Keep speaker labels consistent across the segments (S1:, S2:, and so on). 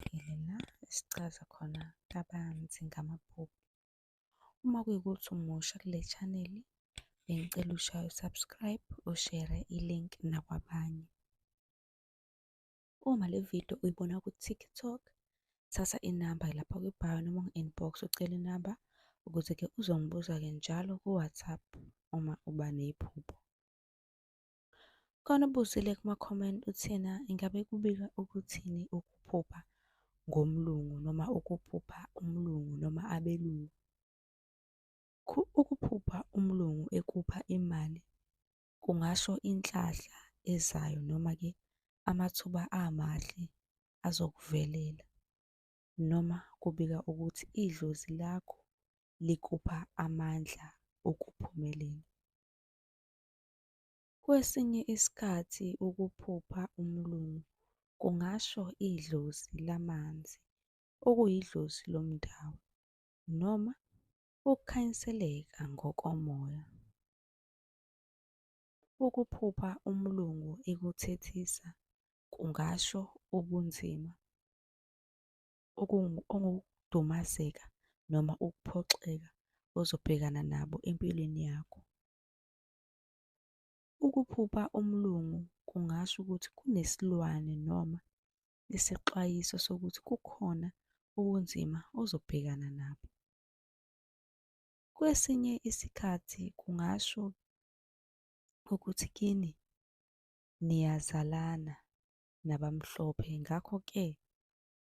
S1: esiqondile la esichaza khona kabanzi ngamaphupho. Uma kuyikuthi umusha kule channel, bengicela ushaye usubscribe, ushere i-link nakwabanye. Uma le video uyibona ku-TikTok, thatha inamba lapha kwi-bio noma ungu-inbox ucele inamba ukuze-ke uzongibuza-ke njalo ku-WhatsApp uma uba nephupho. Khona ubusile kuma comment uthena ingabe kubika ukuthini ukuphupha ngomlungu noma ukuphupha umlungu noma abelungu. Ukuphupha umlungu ekupha imali kungasho inhlahla ezayo noma-ke amathuba amahle azokuvelela noma kubika ukuthi idlozi lakho likupha amandla okuphumelela. Kwesinye isikhathi ukuphupha umlungu kungasho idlozi lamanzi, okuyidlozi lomdabu, noma ukukhanyiseleka ngokomoya. Ukuphupha umlungu ekuthethisa kungasho ubunzima, okudumazeka noma ukuphoxeka ozobhekana nabo empilweni yakho. Ukuphupha umlungu kungasho ukuthi kunesilwane noma isexwayiso sokuthi kukhona ubunzima ozobhekana nabo. Kwesinye isikhathi kungasho ukuthi kini niyazalana nabamhlophe ngakho-ke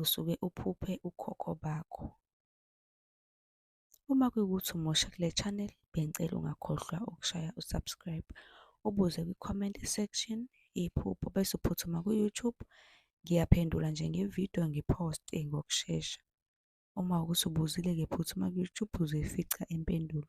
S1: usuke uphuphe ukhokho bakho. Uma kuyikuthi umusha kule channel bengicela ungakhohlwa ukushaya usubscribe ubuze kwi-comment section iphupho bese uphuthuma ku-YouTube ngiyaphendula nje ngevidiyo ngiphoste ngokushesha. Uma ukuthi ubuzile-ke phuthuma ku-YouTube uzoyifica impendulo.